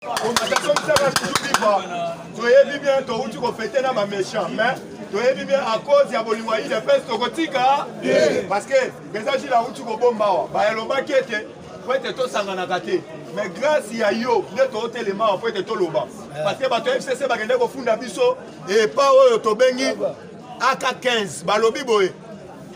Constatation misala toujours vivre. Toyebi bien touti kofete na baméchant mais toyebi bien à cause ya bolingo ya udps tokotika parce que eza jila auti kobomba awa bayalobaki ete po ete tosanganaka te mais grâce ya yo nde tootelema awa po ete toloba eh. parce que bato ya fcc bakende kofunda biso epa oyo tobengi aka 15 balobi boye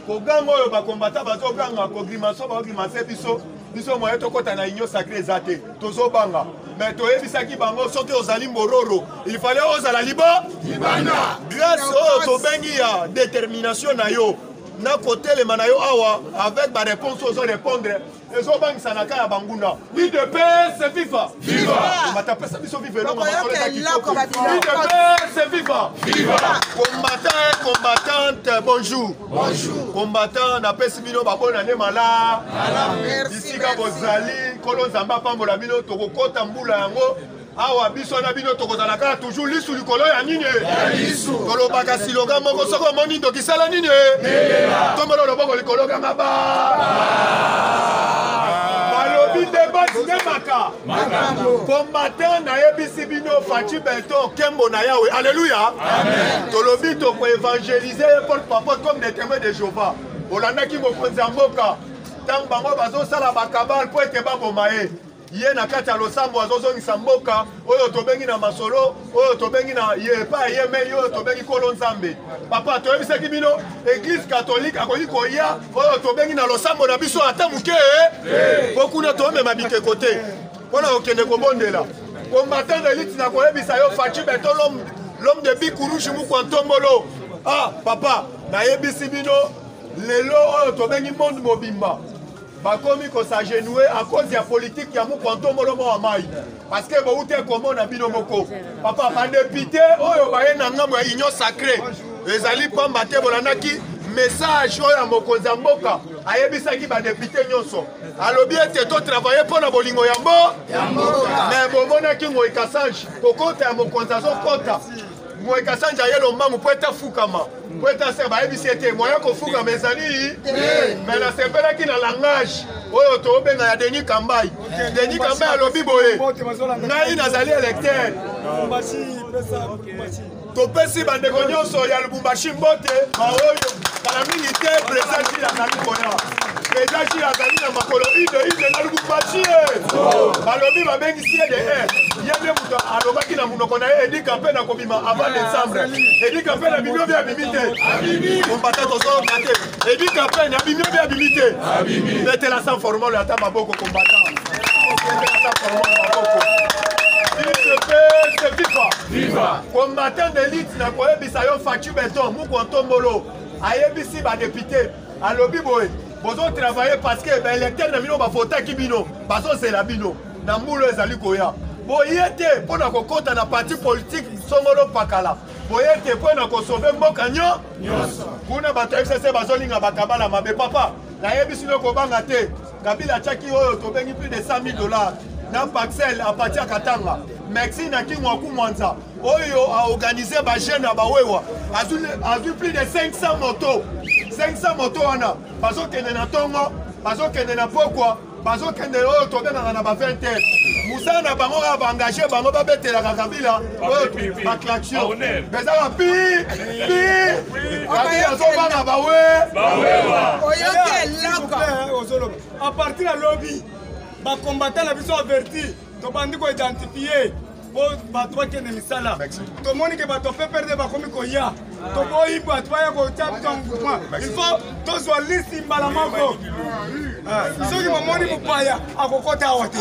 koganga oyo bakombata bazoganga kogrimaso bagrimase biso biso moye tokɔta na union sacré eza te tozobanga me toyebisaki bango soki ozali mororo il fallait ozala libo libanda grâce oyo tobengi ya détermination na yo na kotelema na yo awa avec baréponse ozo répondre ezobangisa na ka ya banguna udps viva viva kombata pesa biso viva elonga makolo eza kitoko udps viva viva combattant combattante bonjour bonjour combattant napesi bino babona nde mala bisika bozali nkolo nzambe apambola bino tokokɔta mbula yango awa biso na bino tokozala kaka toujours lisu likolo ya nini tolobaka siloga moko soki omoni ndoki sala nini tombolo loboko likolo kanga ba balobi nde basi nde maka kombatin nayebisi bino faci beton kembo na yawe alleluya tolobi tokoevangelize ye porte papote comme des témoins de jehova olandaki mokonzi ya mboka ntango bango bazosala bakabale mpo ete baboma ye ye na kati ya losambo azozongisa mboka oyo tobengi na masolo oyo tobengi na ye epai ye mei oyo tobengi nkolo nzambe papa toyebisaki bino eglize katolike akoki koya oyo tobengi na losambo na biso ata moke mpo kuna tomema bikeko te mpo na kokende kobondela combatant elite na koyebisa yo faci beton l'homme de bikurushi mukwa ntombolo ah papa nayebisi bino lelo oyo tobengi monde mobimba bakomi ko s'agenouer à cause ya politique ya mukwa ntombolo mwa mai parce que bowute komona bino moko papa badepute oyo baye na ngambo ya union sacré ezali pamba te bolandaki message oyo ya mokonzi ya mboka ayebisaki badepute nyonso alobi ete totravaille mpo na bolingo ya mbo me bomonaki ngoi kasange kokota ya mokonzi azokota moye kasanja ye lombangu mpo ete afukama mpo ete ase bayebisi ete moye kofukama ezali me nasepelaki na langage oyo tobenga ya denis kambai denis kambai alobi boye ngai nazali electeur topesi bandeko nyonso ya lubumbashi mbote baoyo kala mingi te president jil azali koya president jil azali na makolo ide ide na lubumbashi balobi babengisi ye de ye nde moto alobaki na monoko na ye kape na kobima avant décembre edi kape na bimio bia bimi te kombata tozolonga te edi kape na bimio bia bimi te betela sans formole ata maboko kombata betela sans formole maboko viva combattant d'élite na koyebisa yo faci beton mukwa ntombolo ayebisi badepute alobi boye bozotravaille parce que baélecteur na bino bavotaki bino bazozela bino na mbula ezali koya boye te mpo na kokota na parti politike songolo pakala boye te mpo na kosove mboka nyo kuna bato ya fcc bazolinga bakabala mabe papa nayebisi no kobanga te kabila atyaki oyo tobengi plus de 100 000 dollars na paxel apati ya katanga mexi na kingo akumwanza oyo aorganize bajeune ya bawewa azwi plus de 500 moto 500 moto wana bazokende na ntongo bazokende na pokwa bazokende oyo tobengaka na ba 20 heures mosala na bango kaka baengage bango babetelaka kabila oyo baclaction eza bapi pi kabila azobanga bawe oyoki eloko à partir ya lobi bakombata na biso averti tobandi ko identifie po bato bakende misala tomoni ke bato pprd bakomi koya toboyi bato baya kotia biso mouvement il faut tozwa lisi mbala moko soki momoni mopaya akokota awa te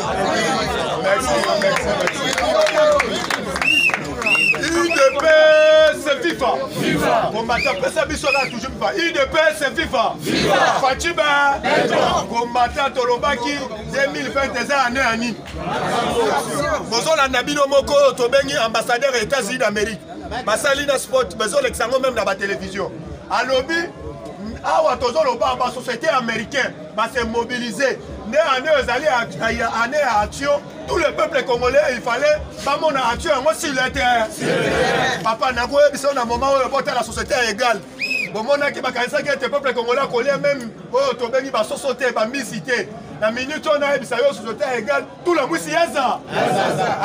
udps fifa kombata apesa biso kaka toujours fifa udps fifa faciba kombata tolobaki 2020 eza année ya nini bozolanda bino moko oyo tobengi ambassadeur ya états-unis d'amérique basali na sport bazolekisa yango meme na batelevizio alobi awa tozoloba basociété américain base mobilise nde année oyo ezali année ya action tout le peuple congolais il fallait bamona action yango sur le terrain papa nakoyebisa yo na moment oyo botala société ya égale bomonaki bakanisaki ete peuple congolais akolia meme oyo tobengi basoso te bambisi te na minute oyo nayebisa yo soso te egal tula mwisi yaza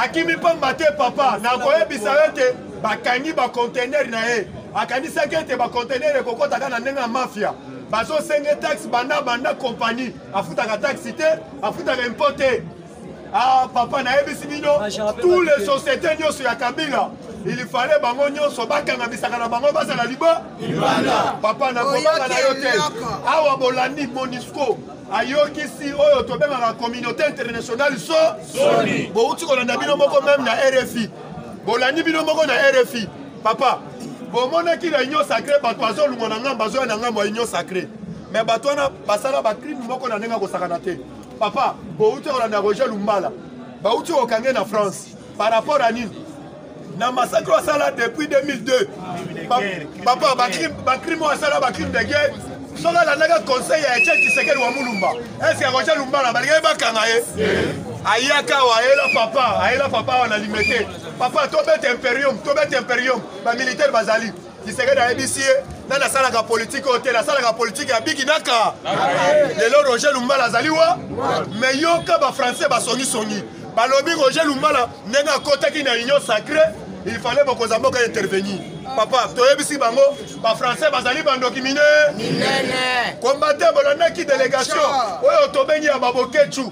akimi mpamba te papa nakoyebisa yo ete bakangi bacontener na ye akanisaki ete bacontener ekokotaka na ndenge ya mafia bazosenge taxe banda banda kompani afutaka taxe te afutaka impo te ah papa nayebisi bino tous les sociétés nyonso ya kabila il fallait bango nyonso bakanga bisaka na bango bazala liba papa nakobanga na yo te awa bolandi monisco ayokisi oyo tobengaka communauté internationale so soni bowuti kolanda bino moko meme na rfi bolandi bino moko na rfi papa bomonaki na union sacré bato bazolungwa na ngambo bazoya na ngambo ya union sacré me bato wana basala bacrime moko na ndenge ya kosakana te papa bouti kolanda roger lumbala bauti kokange na france par rapport à nini na massacre oyo asala depuis 2002 papa bacrime oyo asala bacrime de guerre soki alandaka conseil ya etienne tshisekedi wa mulumba eske akotia lumbala balingaki bakanga ye ayaka awa ayela papa ayela papa awa na limete papa tobeta imperium tobeta imperium bamilitaire bazali Tshisekedi ayebisi ye nani asalaka politike oyo te nasalaka politike ya bigi naka lelo roger lumbala azali wa me yoka bafrançais basongisongi balobi roger lumbala ndenge akotaki na union sacré il fallait bokonza mboka intervenir papa toyebisi bango bafrançais bazali bandoki mine kombate bolandaki delegation oyo tobengi ya babokechu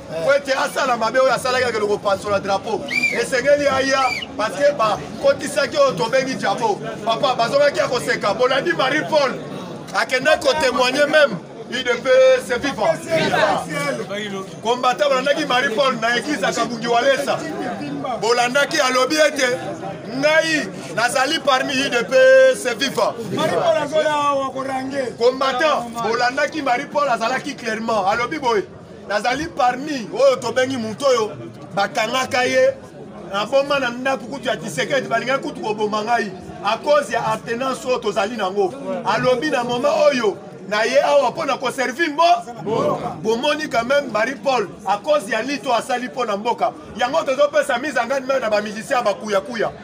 mpo ete asala mabe oyo asalaki akende kopasola drapo esengeli aya parceke bakotisaki oyo tobengi jabo papa bazongaki ya koseka bolandi marie paul akendaki kotemoigne meme udps viva kombata bolandaki marie paul na eglise ya kabungi walesa bolandaki alobi ete ngai nazali parmi udps viva combattant bolandaki marie paul azalaki clairement alobi boye nazali parmi oyo tobengi moto oyo bakangaka ye naboma na ndako kutu ya kisekedi balingaki kutu koboma ngai a cause ya aptenance oyo tozali nango alobi na moma oyo na ye awa mpo na koservi mbo bomoni quand même marie paul a cause ya lito asali mpo na mboka yango tozopesa mise angani meme na bamusicien ya bakuyakuya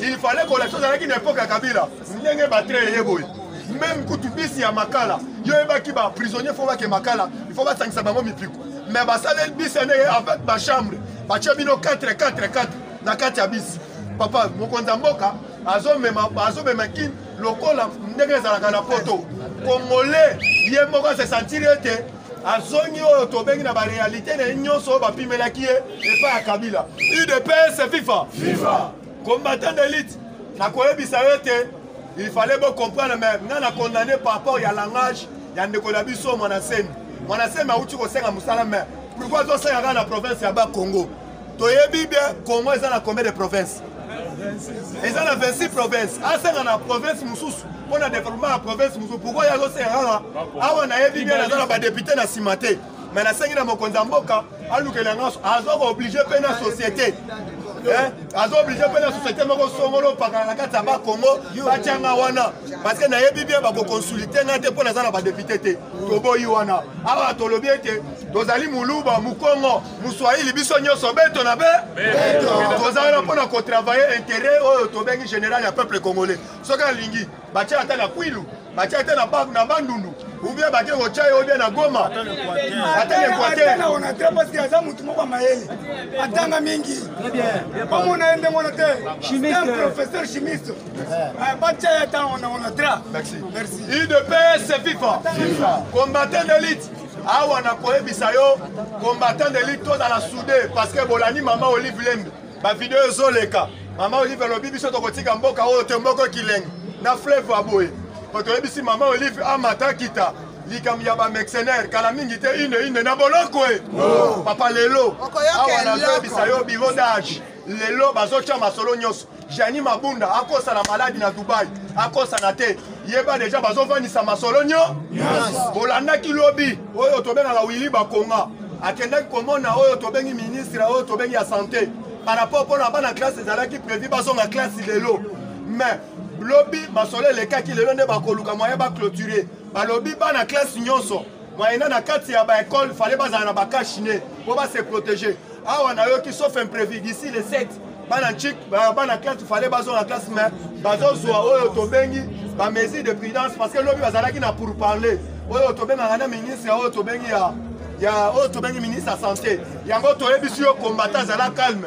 il fallait kolakisa ozalaki na epoke ya kabila ndenge batre eye boye meme kutu bisi ya makala yo oyebaki baprisonnier fo bake makala ifo basangisa bango mipiku me basaleli bisi yango eye avec bachambre batye bino 4 4 4 na kati ya bisi papa mokonzi ya mboka azomema kin lokola ndenge ezalaka na poto kongole ye moko asesantiri ete azongi oyo tobengi na barealité na ye nyonso oyo bapimelaki ye epai ya kabila udps fifa fifa combattant d'élite nakoyebisa yo ete il fallait bocomprendre mais nga na condamne par rapport ya langage ya ndeko na biso mwana semi mwana semi auti kosenga mosala mais pourkoi azosenga kaka na province ya bakongo toyebi bien congo eza na combien de province eza na 26 province asenga na province mosusu mpo na développement ya province mosusu pourkoi ye azosenga kaka awa nayebi bien naza na badepute na nsima te me nasengi na mokonzi ya mboka alukela yango azoka oblige mpe na société Eh? aza oblige mpe na société moko songolo opakana na kati ya bakongo batyanga wana parceke nayebi bien bakokonsulite ngai te mpo naza na badepute te toboyi wana awa tolobi ete tozali moluba mokongo muswahili biso nyonso beto na be toza wana mpo na kotravaille intérêt oyo tobengi général ya peuple congolais soki alingi batya ata na kwilu batya ata na bandundu ubie bake kotya ye obie na goma ata na equateuraza motu moko mayele atanga mingi bamona ye ndenge wana te professeur chimiste batya ye ata ona onatra merci idps fifa combattant d'élite awa na koyebisa yo combattant de lutte tozala soude parce que bolandi mama olive lembe bavideo ezoleka mama olive alobi biso tokotika mboka oyo te mboka ekilengi na fleuve ya boye po toyebisi mama olive amata kita likambo ya bamercenaire kala mingi te ine ine na boloko e papa lelo awa nazoyebisa yo biro dage lelo bazotya masolo nyonso jani mabunda akosa na maladi na dubai akosana te yeba deja bazovandisa masolo nyo bolandaki lobi oyo tobengaka wili bakonga akendaki komona oyo tobengi ministre oyo tobengi ya sante par rapport mpona bana classe ezalaki prévu bazonga classe lelo mais lobi masolo elekaki lelo nde bakoluka moyen baclôture balobi bana classe nyonso Moyena na kati ya ba école fallait bazala na ba cache nez po ba se protéger. Awa nayoki sauf imprévu d'ici le 7 bana chik bana classe fallait bazwa na classe mais bazozwa oyo tobengi ba mesure de prudence parce que lobi bazalaki na pour parler oyo tobengaka na ministre oyo tobengi ya ya oyo tobengi ministre ya santé yango toyebisi yo kombata azala calme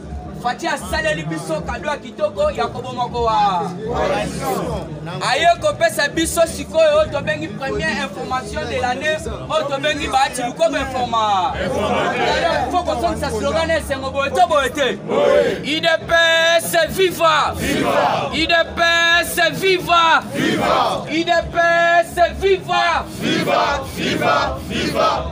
Fatshi asaleli biso kado ya kitoko ya koboma kowa aye kopesa biso sikoyo oyo tobengi première information de l'année oyo tobengi baati lukoba informa fo kosongisa slogan na esengo boye to boye te idps viva idps viva idps viva viva viva viva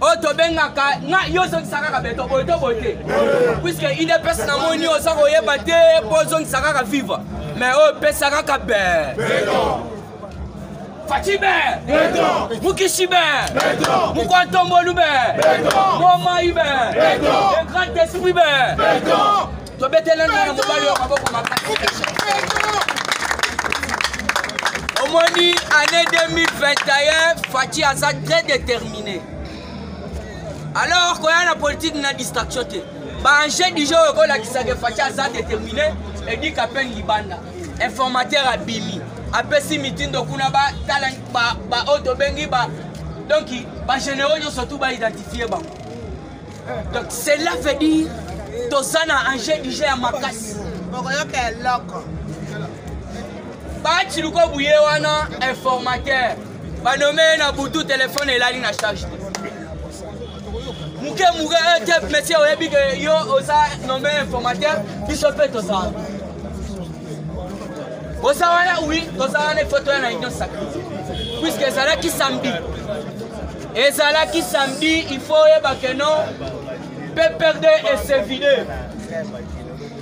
oyo tobengaka nga yo ozongisa kaka beto boye to boye te puiske idps na moni oza koyeba te mpo ozongisa kaka viva mais oyo pesa kaka be faci be mukishi be mukwantombolu be momayi be le grand esprit be tobetela nana mobali oyo maboko makasi omoni année 2021 faci aza très déterminé alors koya na politike na distraction te baenjeu du jour ekolakisaka faci aza déterminé edika pene libanda informateur abimi apesi mitindo kuna batala baoyo tobengi ba donc bagénéraux nyonso tu baidentifie bango donc cela veut dire toza na enjeu du jeu ya makasi bokoyoka eloko baci luko buye wana informateur banome na butu telefone elali na charge te moke moke ete eh, monsieur oyebi ke yo oza nome informateur biso mpe tozala oza wana wi toza wana efoto ya na union sacre puiske ezalaki samedi ezalaki samedi il faut oyeba que non ppr2 esevide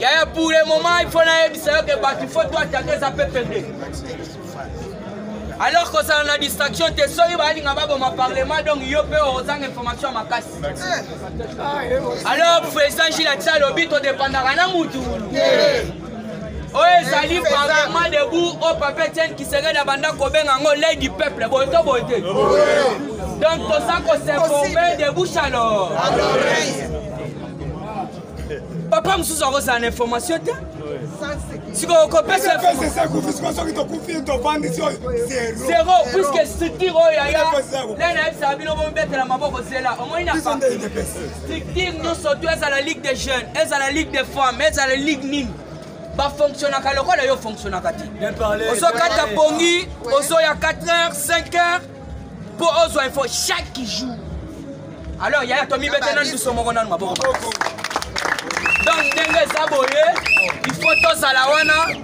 yaya pour le moment il faut nayebisa yo ke bato il faut to atake eza ppr2 alors kozala na distraction te soki balinga baboma parlement donc yo mpe ozanga information ya makasi alors président gilati alobi todepandaka na mutu oyo ezali parlement debout oyo papa etienne kisekedi abanda kobenga yango lei du peuple boye to boye te donc toza kosinforme de bouche à lor papa mosusu akozala na information te sikoyo kopesa zero puiske structure oyo yaya nde nayebisaka bino bomibetela maboko zela omoni na structure nyonso to ezala ligue de jeune ezala ligue de femme ezala ligue nini bafonctionnaka lokola yo ofonctionnaka te ozokata pongi ozoya 4 heures 5 heures mpo ozwa info chaque jour alors yaya tomibete nanu biso moko nanu maboko donc ndenge eza boye il faut tozala wana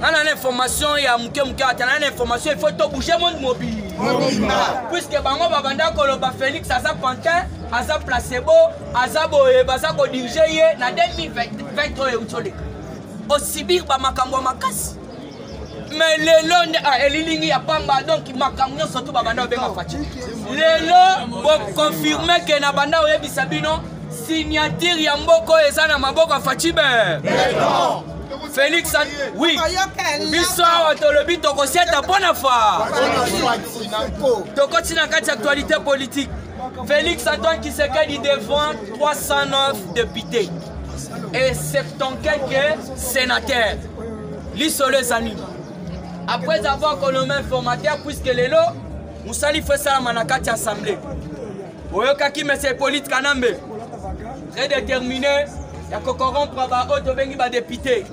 nana na information ya moke moke ata nana na information il faut to bouge monde mobile puiske bango babanda koloba félix aza pantin aza placebo aza boye baza kodirige ye na 2020 oyo euti oleka osibir bamakambo ya makasi mais lelo nde ah, elilingi ya pamba donc makambo nyonso tu babanda obenga faci lelo bokonfirme ke na banda oyebisa bino signature ya mboko eza na maboko ya facibe Felix oui biso awa tolobi tokosiata mpo na fa tokoti na kati ya actualité politique Félix Antoine Kisekedi devant 309 députés et 70 quelques sénateurs. Lisolo eza nini après avoir colombé informateur puisque lelo mosali fo esalama na kati ya assemblée oyokaki monsieur hippolyte kanambe très déterminé ya kocorrompre baoyo tobengi badepute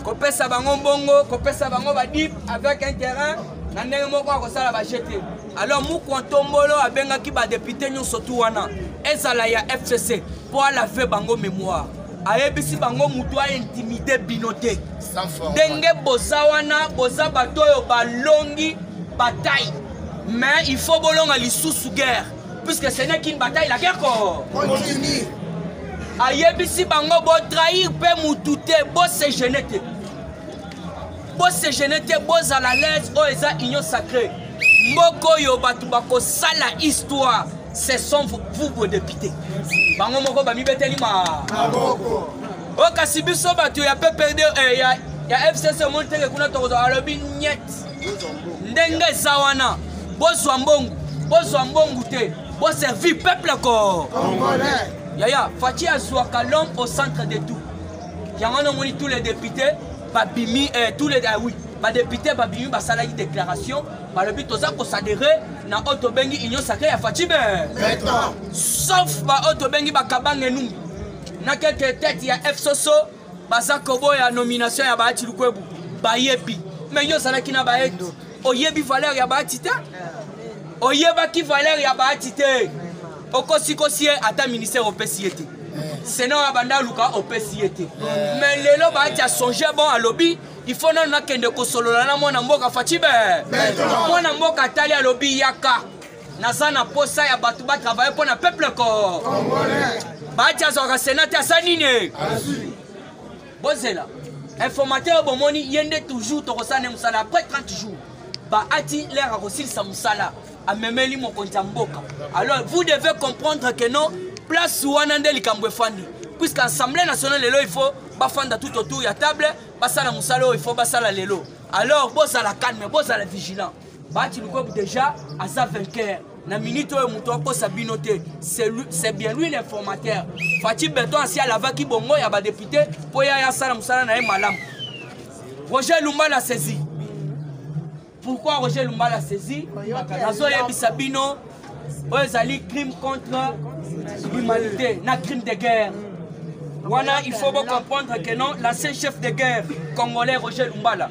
kopesa bango mbongo kopesa bango badip avec un terrain na ndenge moko akosala baje te alors mukwa ntombolo abengaki badepute nyonso tu wana ezala ya fcc mpo alave bango mémoire ayebisi bango moto aintimide bino te ndenge boza wana boza bato oyo balongi batai mais il faut bolonga lisusu guerre puisque ce n'est qu'une bataille la guerre ko continue ayebisi bango botrahir mpe mutu te bosegene te bosegene te bozala lese oyo eza union sacrée mboka oyo bato bakosala histoire ce sont vous vos députés bango moko bamibeteli ma o oh, kasi biso bato ya ppd eh, ya fcc omoni teke kuna tokozwa alobi nyete ndenge eza wana bozwa mbongo bozwa mbongo te boservi peuple ko yaya faci azwaka l'homme au centre de tout yango wana omoni tous les députés babimi eh, tous les ah oui badepute babimi basalaki déclaration balobi toza kosadere na oyo tobengi union sacré ya faci be sauf baoyo tobengi bakabange numbi na quelque tete ya fsoso baza koboya nomination ya bahati lukwebu bayebi me yo ozalaki na bahati oyebi valeur ya bahati te oyebaki valeur ya bahati te okosikosi ye ata ministère opesi ye te sena oyo abanda aluka opesi ye te me lelo bahati asonge bon alobi ifo nano nakende kosolola na mwana mboka facibe mwana mboka atali alobi yaka naza na posa ya bato ba travaille mpo na peuple ko baati azwaka sena te asa nini bozela informateur oyo bomoni ye nde toujours tokosala ne mosala après 30 jours baati lere akosilisa mosala amemeli mokonzi ya mboka alors vous devez comprendre que non place wana nde likambo efandi puisque assemblée nationale lelo il faut bafanda tout autour ya table basala mosala oyo il faut basala lelo alors bozala calme bozala vigilant Bati Lukob déjà aza vainqueur. Na minute oyo moto akosa bino te. C'est bien lui l'informateur. Fatih Beton asi alavaki bongo ya ba député mpo ya asala mosala na ye malamu. Roger Lumba na saisi. Pourquoi Roger Lumba na saisi? Nazoyebisa bino oyo ezali crime contre l'humanité na crime de guerre. Wana il faut bo comprendre que non l'ancien chef de guerre congolais Roger Lumbala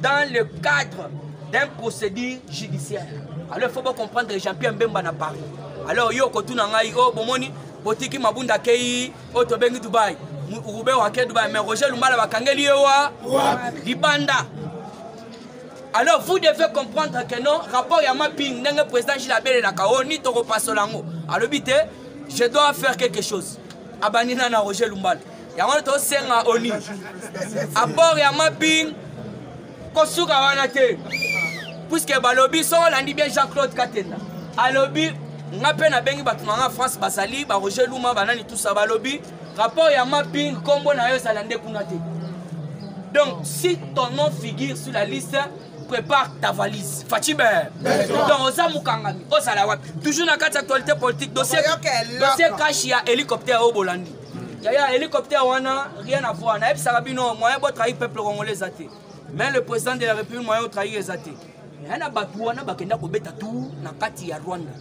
dans le cadre d'un procédure judiciaire alors il faut bo comprendre jean pierre mbemba na paris alors yo okotuna ngai o oh, bomoni botiki mabunda akei oyo oh, tobengi dubai rube wake dubai mais roger lumbala bakangeli ye wa libanda alors vous devez comprendre que non rapport ya mapping ndenge président gile abelelaka o oh, ni tokopasola yango alobi te je dois faire quelque chose abandi na na roger lumbala yango nde tosenga oni apport ya mapping kosuka wana te puiske balobi soko olandi bien jean claude katenda alobi nga mpe nabengi bato na nga france bazali baroger luma banani tusa balobi rapport ya mapping nkombo na yo ezala nde kuna te donc si ton nom figure sur la liste prépare ta valise faci be donc oza mokangami ozala wapi toujours na kati actualité politique dossier kashi ya hélicoptère oyo bolandi yaya hélicoptère wana rien à voir nayebisaka bino moyen bo trahir peuple congolais eza te mais le président de la république moyen otrahir eza te ya na bato wana bakenda kobeta tour na kati ya rwanda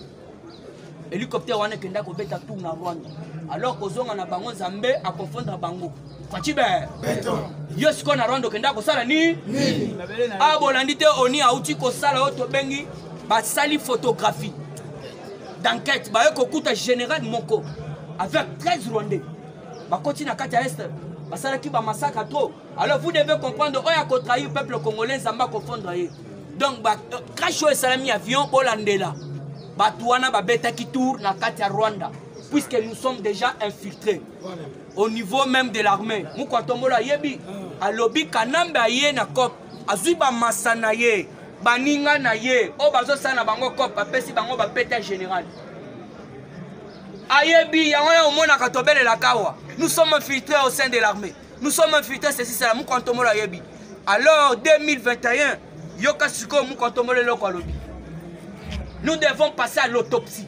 hélicoptère wana ekenda kobeta tour na rwanda alors kozonga na bango nzambe akonfondre bango facibe yo sikoyo na rwanda okenda kosala nini abolandi ah, te oni auti kosala oyo tobengi basali photographie d'enquête baye kokuta général moko avec 13 rwandais bakoti na kati ya est basalaki bamasaka trop alors vous devez comprendre oyo akotrahir peuple congolais nzambe akofondre ye donc euh, crash oyo esalami avion bolandela bato wana babetaki tour na kati ya rwanda puisque nous sommes déjà infiltrés au niveau même de l'armée mokwatombola ayebi ah. alobi kanambe aye na cope azwi bamasa na ye baninga na ye oyo bazosala na bango cope apesi bango bapeta général ayebi yango ya omonaka tobelelaka awa nous sommes infiltrés au sein de l'armée nous sommes infiltrés ceci cela mokantomolo ayebi alors 2021 yoka sikoyo mokantomolo eloko alobi nous devons passer à l'autopsie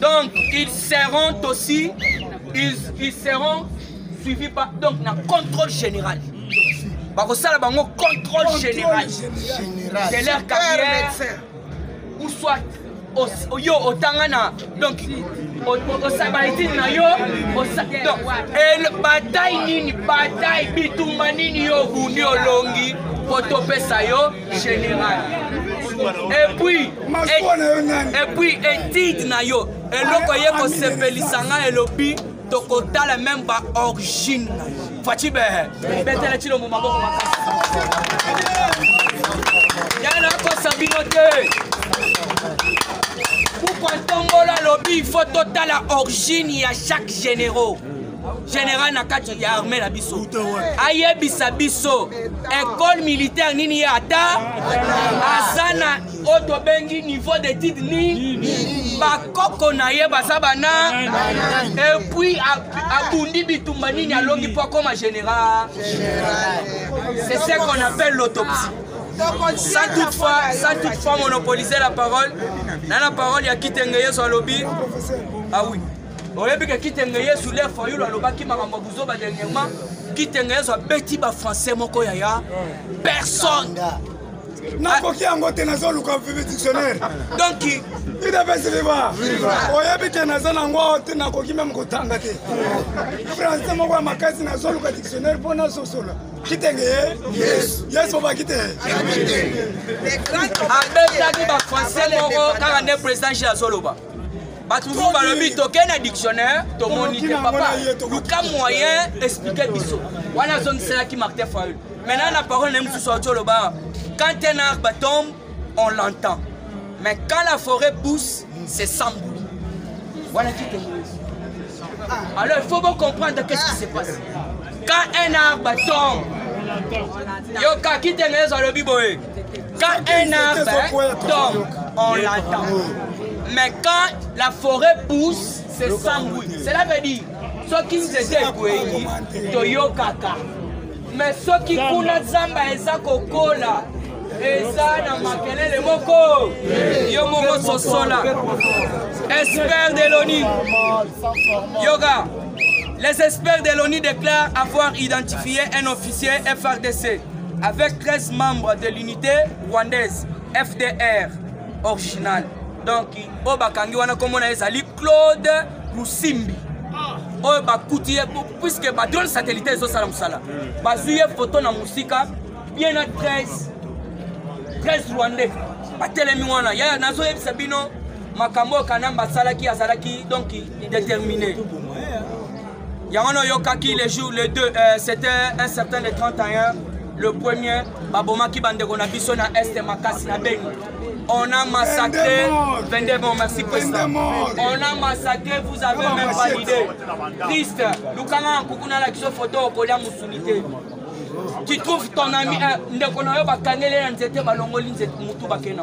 Donc, ils seront aussi, ils, ils seront suivis par, donc, na contrôle général. bakosala bango contrôle général de leur carrière ou soit yo otanga na donc osabaetini na yo bataille nini bataille bitumba nini yo obundi olongi po topesa yo général et puis et puis étude na yo eloko ye kosepelisa ngai elobi tokotala meme ba origine na yo faci behe betela cilombo maboko makasi yana kosa bino te pourkua ntongola alobi il faut totala origine ya chaque généraux general na kati ya arme na biso ayebisa biso ecole militaire nini ye ata aza na oyo tobengi niveau d'étude nini bakoko na ye baza bana epuis abundi bitumba nini alongi mpo akoma général c'est ce qu'on appelle l'autopsie sans toutefois sans toutefois monopoliser la parole na la parole ya kitenge yesu alobi ah oui oyebi ke kitenge yesu le fayulu alobaki makambo ya buzoba dernièrement kitenge yesu abeti bafrançais moko yaya personne nakoki yango te nazoluka vivi dictionnaire donc idepesi viva oyebi te naza nango awa te nakoki meme kotanga te français moko ya makasi nazoluka dictionnaire mpo nasosola kitenge yesu yesu obaki te abetaki bafrançais moko kaka nde président je azoloba bato mosusu balobi tokei na dictionnaire tomoni te papa luka moyen explike biso wana azongiselaki martin faul maintenant na parole na ye mosusu auti oloba quand un arbre tombe on l'entend mais quand la forêt pousse c'est sans bruit wana kikenge ah. alors il faut vous comprendre qu'est-ce qui se passe quand un arbre tombe yoka kitengeleza alobi boye Quand un arbre tombe, on l'attend. Mais quand la forêt pousse, c'est sans bruit. Cela veut dire, soki nzete ekwei toyokaka mais soki kuna zamba eza kokola eza na makelele moko yo moko sosola espère de l'oni yoga les experts de l'oni déclarent avoir identifié un officier frdc avec 13 membres de l'unité rwandaise fdr original donc oyo bakangi wana komona ezali claude lusimbi oyo bakuti ye puiske badrone satellite ezosala mosala bazwi ye foto na mosika bien na 13 13 rwandais batelemi wana yaya nazoyebisa bino makambo oyo kanamba asalaki azalaki donc déterminé yango na oyokaki le jour le 2 euh, c'était un certain le 31 le premier babomaki bandeko na biso na este makasi na beni on a massacré 22 morts, merci président. On a massacré, vous avez même pas l'idée. Triste, Lukanga Kukuna la kiso photo au collier Moussounité. Tu trouves ton ami, euh, ndeko na yo bakangeli na nzete balongoli nzete mutu bakena.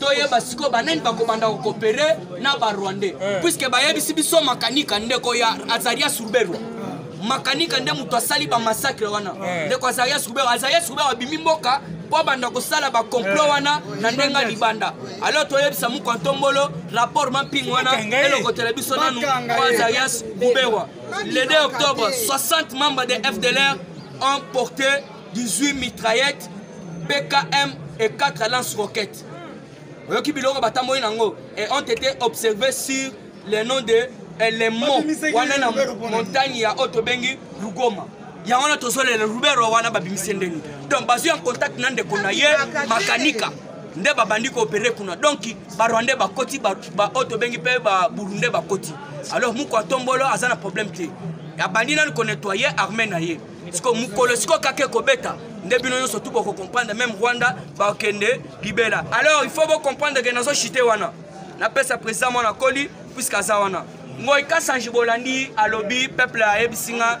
toyeba sikoyo banani bakobanda kokopere na barwandais eh. puiske bayebisi biso makanika ndeko ya azaria surberwa makanika nde moto asali bamasakre wana eh. ndeko azaria surberwa azaria surberwa abimi mboka mpo abanda kosala bakomplo eh. wana na ndenge libanda alo toyebisa moko ntombolo rapport mamping wana elokotela biso nanu mpo azarias guberwa le 2 octobre 60 membres de fdlr ont porté 18 mitraillette bkm et 4 lance roquette oyoki biloko batamboli nango et ont été observé sur le nom de elemo wana na montagne ya oyo tobengi lugoma yango wana tozolela rubero wana babimisi ndeni donc bazwi en contact na ndeko na ye makanika nde babandi koopere kuna donc barwandais bakoti oyo tobengi mpe baburundais bakoti alors moko atombolo aza na problème te abandi nani konetoye arme na ye siko mokolo siko kaka ekobeta nde bino nyonso tu bokocomprendre meme rwanda bakende libela alors il faut bocomprendre ke nazochite wana napesa président mwana koli puiske aza wana ngoi kasange bolandi alobi peuple ayebisi nga